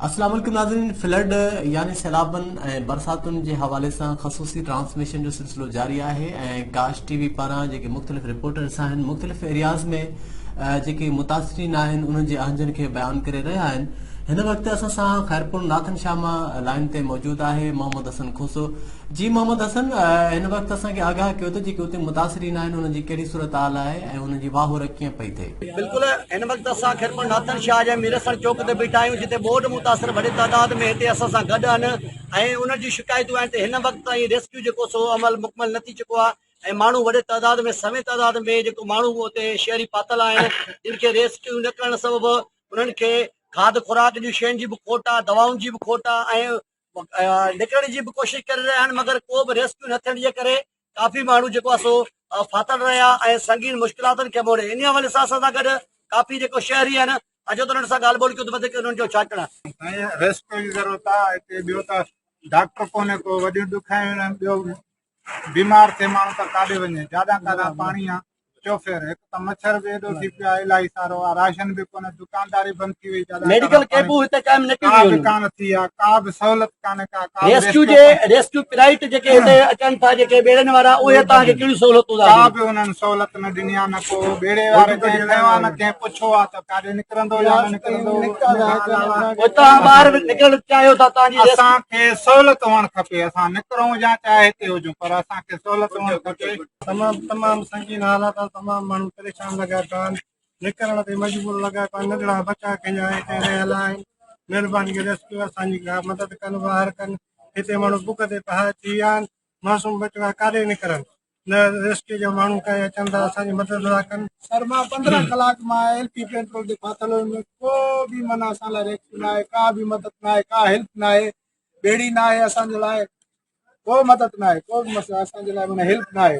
السلام عليڪم ناظرين فلڊ يعني سيلابن ۽ برساتن جي حوالي سان خصوصي ٽرانسميشن جو سلسلو جاري آهي ۽ ڪاش ٽي وي پاران جيڪي مختلف رپورٽرس آهن مختلف ايرياز ۾ جيڪي متاثرين آهن انهن جي اهنجن کي بيان ڪري رهيا آهن هن وقت اسان سان خيرپور ناٿن شاهه مان لائين تي موجود آهي محمد حسن کوسو جي محمد حسن هن وقت اسان کي آگاهه ڪيو ته جيڪي اتي متاثرين آهن انهن جي ڪهڙي صورتحال آهي ۽ انهن جي واهور ڪيئن پئي ٿئي. بلڪل هن وقت اسان خيرپور ناتن شاهه جي ميرحسن چوڪ تي بيٺا آهيون جتي ٻوڏ متاثر وڏي تعداد ۾ هتي اسان سان گڏ آهن ۽ انهن جون شڪايتون آهن ته هن وقت تائين ريسڪيو جيڪو سو عمل مڪمل نه ٿي چڪو آهي ۽ ماڻهو وڏي تعداد ۾ سوين تعداد ۾ جيڪو ماڻهو اتي شهري پاتل آهن جن کي ريسڪيو نه ڪرڻ سبب انهن کي کاڌ خوراڪ جون شين جي به کوٽ آهي دوائن جي به کوٽ آهي ۽ نڪرڻ جي به ڪوشش ڪري رهيا آهن مگر ڪو به ريسڪيو نه ٿيڻ جي ڪري ڪافي ماڻهو جيڪو آهي سو ڦاٿل رهيا ۽ سنگين مشڪلاتن کي موڙي ان حوالي سان اسان سان گڏ ڪافي جيڪو شهري آهن اچو ته انهن سان ڳالهه ٻولهه ڪيو ته وڌيڪ انهن جو ڇا ڪرڻ سائين ريسڪيو جي ضرورت آهي هتي ٻيو ته ڊاڪٽر ڪونهي ڪو وڏيون ڏکايون آهن ٻيو بيمار ٿئي ماڻهو ته ڪاڏي وڃي جاڏان ڪاڏان پاڻي آ چوڦير هڪ ته مڇر به ايڏو ٿي پيو آ الاهي سارو آ راشن به ڪونه دڪانداري بند ٿي وئي جاڏان ميڊيڪل ڪئمپون هتي قائم نه ڪيون ويون ڪا به ڪانه ٿي آ ڪا به سهولت ڪانه ڪا ڪا ريسڪيو جي ريسڪيو پرائيٽ جيڪي هتي اچن ٿا جيڪي ٻيڙين وارا اهي تان کي ڪهڙيون سهولتون ڪا به انهن سهولت نه ڏني آ نه ڪو ٻيڙي واري کي نه ڪنهن پڇو آ ته ڪاڏي نڪرندو يا نه نڪرندو اتان ٻاهر به نڪرڻ چاهيو ٿا تان جي اسان کي سهولت هئڻ کپي اسان نڪرون يا چاهي هتي هجون پر اسان کي سهولت هئڻ کپي تمام تمام سنگين حالات آهن تمام ماڻهو پريشان لڳا پيا آهن نڪرڻ تي مجبور لڳا پيا ننڍڙا بچا کنيا آهي ڪنهن رهيل آهن مهرباني ڪري ريسڪيو اسان جي مدد ڪن ٻاهر ڪن هتي ماڻهو بک تي پهائي ٿي ويا آهن معصوم ٻچڙا ڪاڏي نڪرن نه ريسڪيو جا ماڻهو ڪنهن اچن ته اسان جي مدد ٿا ڪن. سر مان پندرهن ڪلاڪ مان ايل پي پيٽرول تي ڦاٿل هيم ڪو به من اسان لاء ريسڪيو نه آهي ڪا به مدد نه آهي ڪا هيلپ نه آهي ٻيڙي نه آهي اسان جي لاء ڪو مدد نه آهي ڪو به مسئلو اسان جي لاء معنيٰ هيلپ نه آهي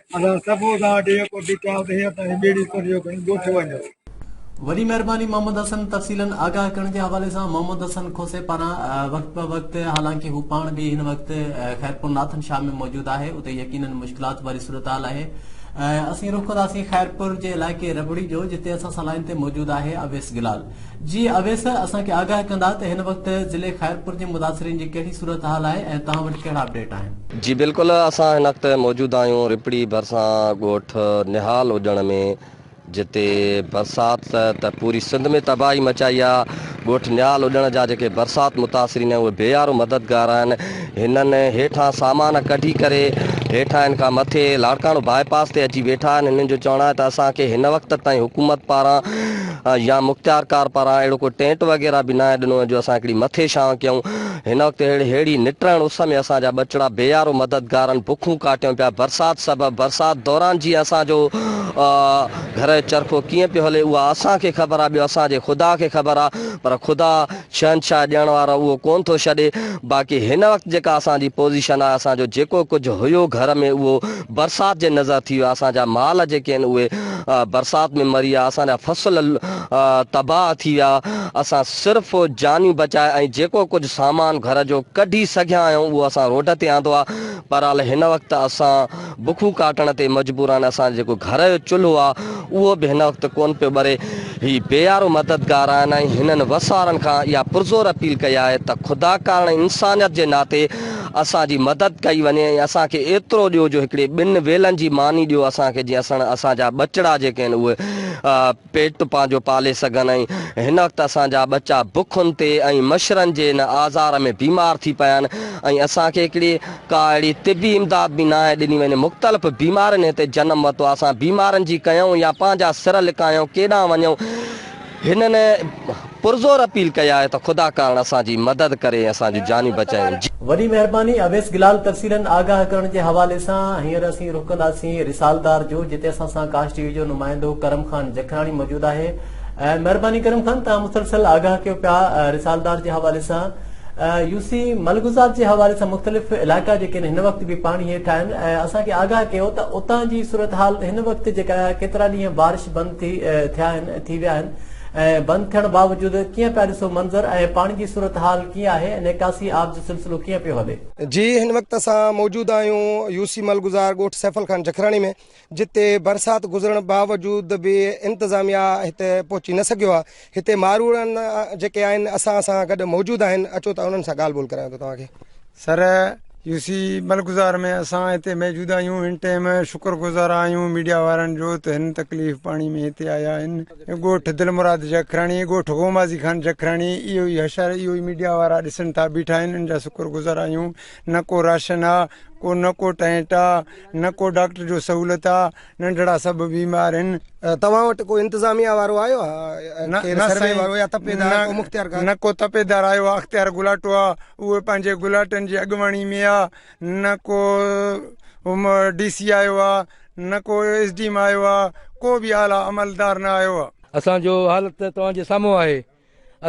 اسان سڀ اوڏان وٽ اهو ڪوٽي ڪيائون ته هينئر توهان جي ٻيڙي اتر جو کڻي ڳوٺ وڃو. وڏي مهرباني محمد حسن تفصيلن آگاهه ڪرڻ جي حوالي سان محمد حسن کوسي پاران وقت بوقت حالانڪه هو پاڻ به هن وقت خيرپور ناٿن شاهه ۾ موجود آهي اتي يقينن مشڪلات واري صورتحال آهي اسين رخ ڪنداسين خيرپور جي علائقي ربڙي جو جتي اسان سان لائين تي موجود آهي اويس گلال جي اويس اسان کي آگاهه ڪندا ته هن وقت ضلعي خيرپور جي متاثرين جي ڪهڙي صورتحال آهي ۽ توهان وٽ ڪهڙا اپڊيٽ آهن. جي بلڪل اسان هن وقت موجود آهيون رپڙي ڀرسان ڳوٺ نهال اجڻ ۾ جتي برسات ته پوري سنڌ ۾ تباهي مچائي آهي ڳوٺ نهال اجڻ جا جيڪي برسات متاثرين آهن اهي بيارو مددگار آهن هنن هيٺان سامان ڪڍي ڪري هيٺاهن کان مٿي لاڙڪاڻو باء پاس تي اچي ويٺا آهن هنن جو چوڻ آهي ته اسان کي هن وقت تائين حڪومت پاران يا مختيار ڪار پاران اهڙو ڪو ٽينٽ وغيره به ناهي ڏنو وڃي جو اسان هڪڙي مٿي ڇانو ڪيون. هن وقت اهڙي ههڙي نٽرڻ اس ۾ اسان جا ٻچڙا بي يارو مددگارن بکون ڪاٽيون پيا. برسات سبب برسات دوران جيئن اسان جو گهر جو چرخو ڪيئن پيو هلي اها اسان کي خبر آهي ٻيو اسان جي خدا کي خبر آهي پر خدا شهنشاهي ڏيڻ وارو اهو ڪونه ٿو ڇڏي باقي هن وقت جيڪا اسان جي پوزيشن آهي اسان جو جيڪو ڪجهه هيو گهر ۾ اهو برسات جي نظر ٿي ويا اسان جا مال جيڪي آهن اهي برسات ۾ مري ويا اسان جا فصل تباهه ٿي ويا اسان صرف جانيون بچائي ۽ جيڪو ڪجهه سامان گهر جو ڪڍي سگهيا آهيون اهو اسان روڊ تي آندو آهي بهرحال هن وقت اسان بکون ڪاٽڻ تي مجبور آهن اسان جو جيڪو گهر جو چلهو آهي اهو به هن وقت ڪونه پيو ٻري هي بيارو مددگار آهن ۽ هنن وسارن کان اها پرزور اپيل ڪئي آهي ته خدا ڪارڻ انسانيت جي ناتي اسان جي مدد ڪئي وڃي ۽ اسان کي ايترو ڏيو جو هڪڙي ٻن ويلن جي ماني ڏيو اسان کي جيئن اسڻ اسان جا ٻچڙا جيڪي آهن اهي پيٽ پنهنجو پالي سگهن ۽ هن وقت اسان جا ٻچا بکن تي ۽ مڇرن جي ان آزار ۾ بيمار ٿي پيا آهن ۽ اسان کي هڪڙي ڪا اهڙي طبي امداد به ناهي ڏني وڃي مختلف بيمارين هتي جنم ورتو آهي اسان بيمارن جي ڪيون يا پنهنجا سر لڪايون ڪيڏانهن وڃون هنن پرزور اپيل ڪئي آهي ته خدا ڪارڻ اسان جي مدد ڪري ۽ اسان جون جانيون بچائين. وڏي مهرباني اويس گلال تفصيلن آگاهه ڪرڻ جي حوالي سان هينئر اسين رخ ڪنداسين رسالدار جو جتي اسان سان ڪاش ٽي وي جو نمائندو ڪرم خان جکراڻي موجود آهي مهرباني ڪرم خان توهان مسلسل آگاهه ڪيو پيا رسالدار جي حوالي سان يو سي ملگذات جي حوالي سان مختلف علائقا جيڪي آهن هن وقت به پاڻي هيٺ آهن اسان کي آگاهه ڪيو ته اتان جي صورتحال هن وقت جيڪا آهي ڪيترا ڏينهن بارش بند ٿي ٿيا آهن ٿي ويا آهن ۽ بند ٿيڻ باوجود ڪيئن پيا ڏسو منظر ۽ پاڻي جي صورتحال ڪيئن آهي ۽ نيڪاسي آب جو سلسلو ڪيئن پيو هلي. جي هن وقت اسان موجود آهيون يوسي مل گذار ڳوٺ سيفل خان جکراڻي ۾ جتي برسات گذرڻ باوجود به انتظاميا هتي پهچي نه سگهيو آهي هتي ماروئڙا جيڪي آهن اسان سان گڏ موجود آهن اچو ته انهن سان ڳالهه ٻولهه ڪرايان ٿو توهان کي سر يو سي ملڪزار ۾ اسان هتي موجود آهيون هن ٽيم شڪر گذار آهيون ميڊيا وارن جو ته هن تڪليف پاڻي ۾ هتي آيا آهن ڳوٺ دل مراد جکراڻي ڳوٺ غومازي خان جکراڻي اهو ئي حشر اهو ئي ميڊيا وارا ڏسن ٿا بيٺا آهن ان جا شڪر گذار آهيون نه ڪو راشن آ ڪو نه ڪو ٽينٽ آ نه ڪو ڊاڪٽر جو سهولت آ ننڍڙا سڀ بيمار هن. توهان وٽ ڪو انتظاميا وارو آيو آ؟ نه ڪير نه سروي سائين وارو يا تپيدار ڪو نه مختيارڪار؟ نه ڪو تپيدار آيو آ اختيار گلاٽو آ اهو پنهنجي گلاٽن جي اڳواڻي ۾ آ نه ڪو م ڊي سي آيو آ نه ڪو ايس ڊي ايم آيو آ ڪو به اعليٰ عملدار نه آيو آ. اسان جو حال ته توهان جي سامهون آهي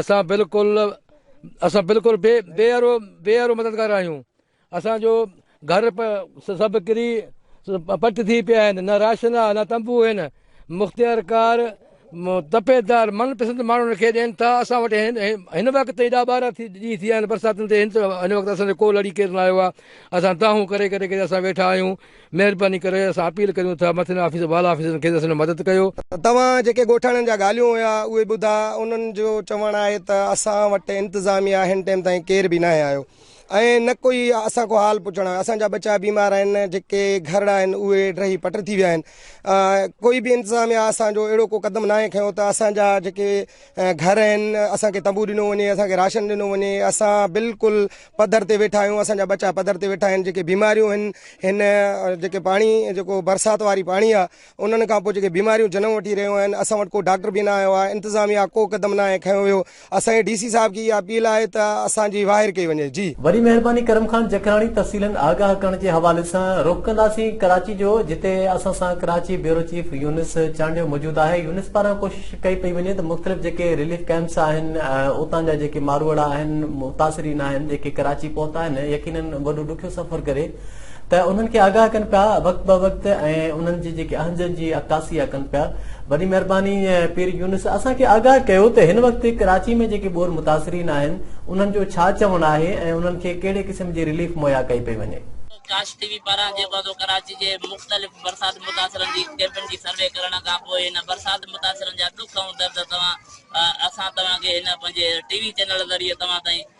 اسان بلڪل اسان بلڪل بي بي ارو بي ارو مددگار آهيون. اسان جو گهر پ سڀ ڪري پٽ ٿي پيا آهن، نه راشن آ، نه تنبو هين، مختيارڪار تپيدار من پسند ماڻهن کي ڏين ٿا، اسان وٽ هن وقت تائين ڏهه ٻارهن ٿي ڏينهن ٿي ويا آهن برساتن تي هن هن وقت اسان جو ڪو لڙي ڪير نه آيو آ، اسان دانهون ڪري ڪري ڪري اسان ويٺا آهيون، مهرباني ڪري اسان اپيل ڪريون ٿا مٿين آفيسر والا آفيسرن کي ته اسان جو مدد ڪيو. توهان جيڪي ڳوٺاڻن جا ڳالهيون هيا اهي ٻڌا، انهن جو چوڻ آهي ته اسان وٽ انتظاميا هن ٽيم تائين ڪير به ناهي آيو، ۽ نه ڪوئي اسان کان حال پڇڻ آيو. اسان جا ٻچا بيمار آهن، جيڪي گهرڙا آهن اهي ڊهي پٽ ٿي ويا آهن. ڪوئي به انتظاميا اسان جو اهڙو ڪو قدم ناهي کنيو ته اسان جا جيڪي گهر آهن اسان کي تنبو ڏنو وڃي، اسان کي راشن ڏنو وڃي. اسان بلڪل پڌر تي ويٺا آهيون، اسان جا ٻچا پڌر تي ويٺا آهن، جيڪي بيماريون آهن، هن جيڪي پاڻي جيڪو برسات واري پاڻي آهي، انهن کان پوء جيڪي بيماريون جنم وٺي رهيون آهن اسان وٽ ڪو ڊاڪٽر به نه آيو آهي انتظاميا ڪو قدم ناهي کنيو ويو اسان جي ڊي سي صاحب کي اها اپيل آهي ته اسان جي واهر ڪئي وڃي جي. وڏي مهرباني ڪرم خان جکراڻي تفصيلن آگاهه ڪرڻ جي حوالي سان رخ ڪنداسين ڪراچي جو جتي اسان سان ڪراچي بيورو چيف يونس چانڊيو موجود آهي يونس پاران ڪوشش ڪئي پئي وڃي ته مختلف جيڪي رليف ڪئمپس آهن اتان جا جيڪي ماروئڙا آهن متاثرين آهن جيڪي ڪراچي پهتا آهن يقينن وڏو ڏکيو سفر ڪري ته انهن کي آگاهه ڪن پيا وقت به وقت ۽ انهن جي جيڪي اهنجن جي عڪاسي اها ڪن پيا وڏي مهرباني پير يونس اسان کي آگاهه ڪيو ته هن وقت ڪراچي ۾ جيڪي ٻوڏ متاثرين آهن انهن جو ڇا چوڻ آهي ۽ انهن کي ڪهڙي قسم جي رليف مهيا ڪئي پئي وڃي. ڪاش ٽي وي پاران جيڪو آهي سو ڪراچي جي مختلف برسات متاثرن جي ڪئمپن جي سروي ڪرڻ کان پوء هن برسات متاثرن جا ڏک ۽ درد توهان اسان توهان کي هن پنهنجي ٽي وي چينل ذريعي توهان تائين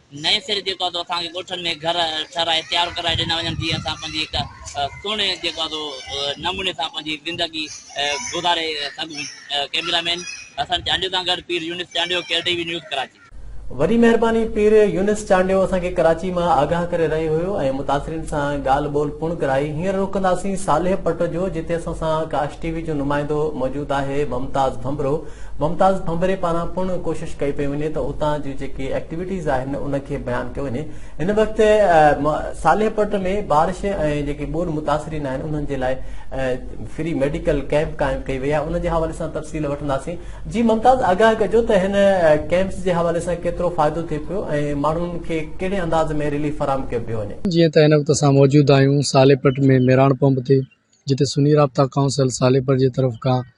نئين سري جيڪو آهي سو اسان کي ڳوٺن ۾ گهر ٺهرائي تيار ڪرائي ڏنا وڃن جيئن اسان پنهنجي هڪ سهڻي جيڪو آهي سو نموني سان پنهنجي زندگي گذاري سگهون ڪئميرا مين حسن چانڊيو سان گڏ Pir Younis Chandio care T V news Karachi. وڏي مهرباني پير يونس چانڊيو اسان کي ڪراچي مان آگاهه ڪري رهيو هيو ۽ متاثرين سان ڳالهه ٻولهه پڻ ڪرائي هينئر رخ ڪنداسين صالح پٽ جو جتي اسان سان ڪاش ٽي وي جو نمائندو موجود آهي ممتاز ڀنڀرو ممتاز ڀنڀري پاران پڻ ڪوشش ڪئي پئي وڃي ته اتان جون جيڪي ايڪٽيوٽيز آهن ان کي بيان ڪيو وڃي هن وقت صالح پٽ ۾ بارش ۽ جيڪي ٻوڏ متاثرين آهن انهن جي لاء فري ميڊيڪل ڪيمپ قائم ڪئي وئي آهي ان جي حوالي سان تفصيل وٺنداسين جي ممتاز آگاهه ڪجو ته هن ڪيمپس جي حوالي سان ڪيترو فائدو ٿئي پيو ۽ ماڻهن کي ڪهڙي انداز ۾ ريليف فراهم ڪيو پيو وڃي جيئن ته هن وقت اسان موجود آهيون صالح پٽ ۾ ميراڻ پمپ تي جتي سني رابطا ڪائونسل صالح پٽ جي طرف کان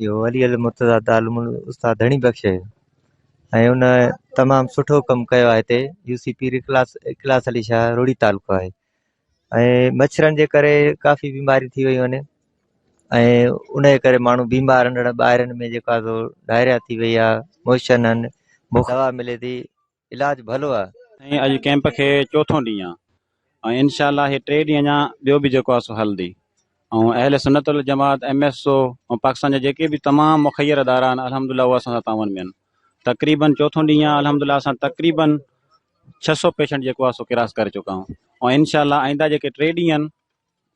اهو ولي المرتضيٰ دارالعلوم استاد ڌڻي بخش ۽ ان تمام سٺو ڪم ڪيو آهي هتي يو سي پير اخلاص اخلاص علي شاهه روهڙي تعلقو آهي ۽ مڇرن جي ڪري ڪافي بيماري ٿي ويون آهن ۽ ان جي ڪري ماڻهو بيمار ننڍڙا ٻاهرن ۾ جيڪا سو ڊائريا ٿي وئي آهي موشن آهن مفت دوا ملي ٿي علاج ڀلو آ. سائين اڄ ڪيمپ کي چوٿون ڏينهن آ ۽ انشاء الله هي ٽي ڏينهن اڃا ٻيو به جيڪو آ سو هلندي ۽ اهل سنت والجماعت ايم ايس او ۽ پاڪستان جا جيڪي به تمام مخير ادارا آهن الحمدلله اهو اسان سان تعاون ۾ آهن تقريبن چوٿون ڏينهن آ الحمدلله اسان تقريبن ڇهه سؤ پيشنٽ جيڪو آ سو ڪراس ڪري چڪا آهيون ۽ انشاء الله آئنده جيڪي ٽي ڏينهن آهن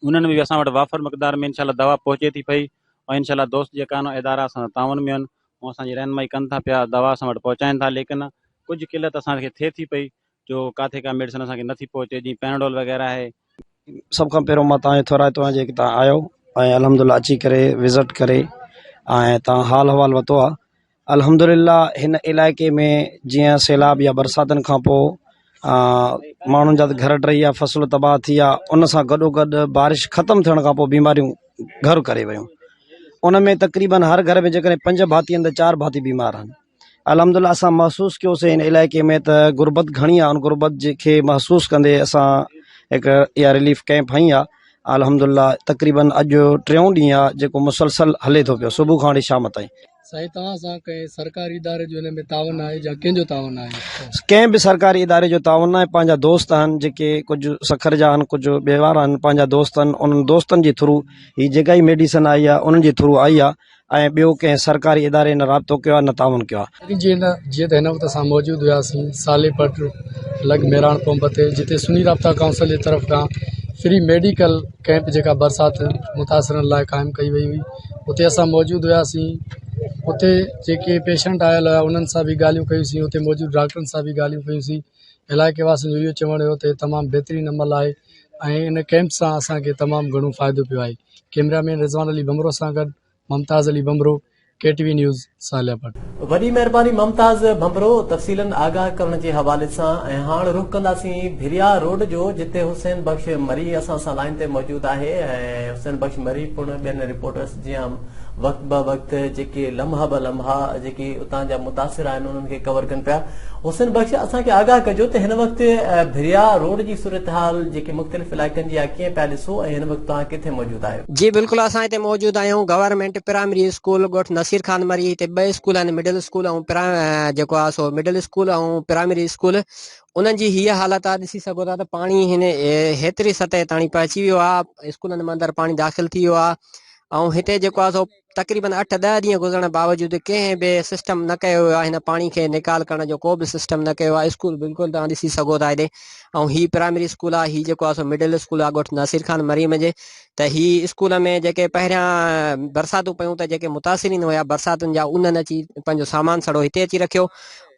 انهن ۾ به اسان وٽ وافر مقدار ۾ انشاء الله دوا پهچي ٿي پئي ۽ انشاء الله دوست جيڪا آهن ادارا اسان سان تعاون ۾ آهن هو اسان جي رهنمائي ڪن ٿا پيا دوا اسان وٽ پهچائين ٿا ليڪن ڪجهه قلت اسان کي ٿئي ٿي پئي جو ڪاٿي ڪا ميڊيسن اسان کي نه ٿي پهچي جيئن پيناڊول وغيره آهي سڀ کان پهريون مان توهان کي ٿورائتو آهيان جيڪي توهان آيو ۽ الحمدلله اچي ڪري وزٽ ڪري ۽ توهان حال احوال وتو آهي الحمدلله هن علائقي ۾ جيئن سيلاب يا برساتن کان پوء ماڻهن جا گهر ٽهي ويا فصل تباهه ٿي ويا ان سان گڏوگڏ بارش ختم ٿيڻ کان پوء بيماريون گهر ڪري ويون ان ۾ تقريبن هر گهر ۾ جيڪڏهن پنج ڀاتي آهن ته چار ڀاتي بيمار آهن الحمدلله اسان محسوس ڪيوسي ان علائقي ۾ ته غربت گهڻي آهي ان غربت جي کي محسوس ڪندي اسان هڪ اها رليف ڪيمپ هنئي آهي الحمدلله تقريبن اڄ ٽيون ڏينهن آهي جيڪو مسلسل هلي ٿو پيو صبح کان وٺي شام تائين سائين توهان سان ڪنهن سرڪاري اداري جو هن ۾ تعاون آهي يا ڪنهن جو تعاون آهي؟ ڪنهن به سرڪاري اداري جو تعاون ناهي پنهنجا دوست آهن جيڪي ڪجهه سکر جا آهن ڪجهه ٻهوار آهن پنهنجا دوست آهن انهن دوستن جي ٿرو هي جيڪا هي ميڊيسن آئي آهي انهن جي ٿرو آئي آهي ۽ ٻيو ڪنهن سرڪاري اداري نه رابطو ڪيو آهي نه تعاون ڪيو آهي. سائين جي جيئن ته هن وقت اسان موجود هياسين سالي پٽ لڳ ميراڻ پمپ تي جتي سني رابطا ڪائونسل جي طرف کان فري ميڊيڪل ڪئمپ جيڪا برسات متاثرن لاء قائم ڪئي وئي هئي اتي اسان موجود هياسين اتي جيڪي پيشنٽ آيل هيا انهن سان بي ڳالهيون ڪيوسين اتي موجود ڊاڪٽرن سان بي ڳالهيون ڪيوسين علائقي واسين جو اهو چوڻ هيو ته تمام بهترين عمل آهي ۽ ان ڪئمپ سان اسانکي تمام گهڻو فائدو پيو آهي ڪيمرا مين رضوان علي بمرو سان گڏ Mumtaz Ali Bhambhro K T V news Saleha Bhatt. وڏي مهرباني ممتاز ڀنڀرو تفصيلن آگاهه ڪرڻ جي حوالي سان ۽ هاڻ رخ ڪنداسين ڀريا روڊ جو جتي حسين بخش مري اسان سان لائين تي موجود آهي ۽ حسين بخش مري پڻ ٻين رپورٽرس جيان وقت به وقت جيڪي لمحا به لمحا جيڪي اتان جا متاثر آهن انهن کي ڪور ڪن پيا حسين بخش اسان کي آگاهه ڪجو ته هن وقت ڀريا روڊ جي صورتحال جيڪي مختلف علائقن جي آهي ڪيئن پيا ڏسو ۽ هن وقت توهان ڪٿي موجود آهيو جي بلڪل اسان هتي موجود آهيون گورنمينٽ پرائمري اسڪول ڳوٺ نصير خان مري هتي ٻه اسڪول آهن مڊل اسڪول ۽ پرا جيڪو آهي سو مڊل اسڪول ۽ پرائمري اسڪول انهن جي هيء حالت آهي ڏسي سگهو ٿا ته پاڻي هن هيتري سطح تائين پهچي ويو آهي اسڪولن ۾ اندر پاڻي داخل ٿي ويو آهي ۽ هتي جيڪو آهي سو تقريبن اٺ ڏهه ڏينهن گذرڻ باوجود ڪنهن به سسٽم نه ڪيو ويو آهي هن پاڻي کي نيڪال ڪرڻ جو ڪو به سسٽم نه ڪيو آهي اسڪول بلڪل توهان ڏسي سگهو ٿا هيڏي ۽ هي پرائمري اسڪول آهي هي جيڪو آهي سو مڊل اسڪول آهي ڳوٺ ناصر خان مريم جي ته هي اسڪول ۾ جيڪي پهريان برساتون پيون ته جيڪي متاثرين هيا برساتن جا انهن اچي پنهنجو سامان سڙو هتي اچي رکيو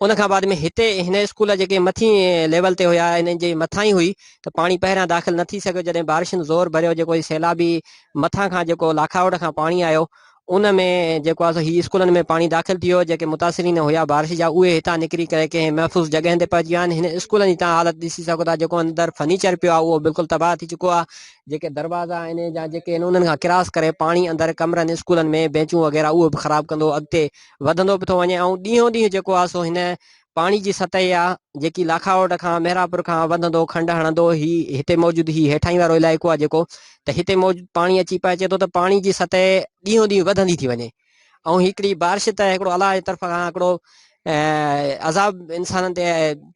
ان کان بعد ۾ هتي هن اسڪول جيڪي مٿي ليول تي هيا هنن جي مٿان ئي هئي ته پاڻي پهريان داخل نه ٿي سگهيو جڏهن بارشن زور ڀريو جيڪو سيلابي مٿان کان جيڪو لاکاوٽ کان پاڻي آيو ان ۾ جيڪو آهي سو هي اسڪولن ۾ پاڻي داخل ٿي ويو جيڪي متاثرين هيا بارش جا اهي هتان نڪري ڪري ڪنهن محفوظ جڳهين تي پهچي ويا آهن هن اسڪولن جي توهان حالت ڏسي سگهو ٿا جيڪو اندر فرنيچر پيو آهي اهو بلڪل تباهه ٿي چڪو آهي جيڪي دروازا آهن جا جيڪي آهن انهن کان ڪراس ڪري پاڻي اندر ڪمرن اسڪولن ۾ بينچون وغيره اهو به خراب ڪندو اڳتي وڌندو به ٿو وڃي ۽ ڏينهون ڏينهن جيڪو آهي سو هن پاڻي جي سطح آ جيڪي لاکاوٽ کان مهراپور کان وڌندو کنڊ هڻندو هي هتي موجود هي هيٺاهين وارو علائقو آ جيڪو ته هتي موجود پاڻي اچي پهچي ٿو ته پاڻي جي سطح ڏينهون ڏينهن وڌندي ٿي وڃي ۽ هڪڙي بارش ته هڪڙو الله جي طرف کان هڪڙو عذاب انسانن تي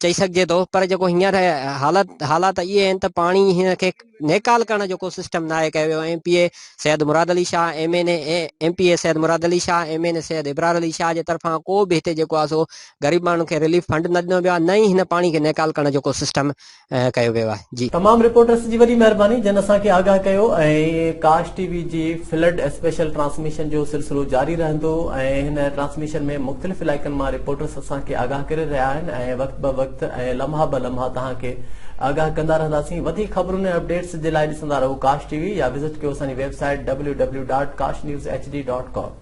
چئي سگهجي ٿو پر جيڪو هينئر حالت حالات اهي آهن ته پاڻي هن کي نيڪال ڪرڻ جو ڪو سسٽم ناهي ڪيو ويو M P A Syed Murad Ali Shah M N A M P A Syed Murad Ali Shah M N A Syed Abrar Ali Shah جي طرفان ڪو به هتي جيڪو آهي سو غريب ماڻهن کي رليف فنڊ نه ڏنو ويو آهي نه ئي هن پاڻي کي نيڪال ڪرڻ جو ڪو سسٽم ڪيو ويو آهي جي. تمام رپورٽرس جي وڏي مهرباني جن اسان کي آگاهه ڪيو ۽ ڪاش ٽي وي جي فلڊ اسپيشل ٽرانسميشن جو سلسلو جاري رهندو ۽ هن ٽرانسميشن ۾ مختلف علائقن مان رپورٽرس اسان کي آگاهه ڪري رهيا آهن ۽ وقت به وقت ۽ لمحا به لمحا کي آگاهه ڪندا رهنداسين وڌيڪ خبرون ۽ اپڊيٽس جي لاء ڏسندا رهو ڪاش ٽي وي يا وزٽ ڪيو اسان جي ويب سائيٽ www.kashnews.hd.com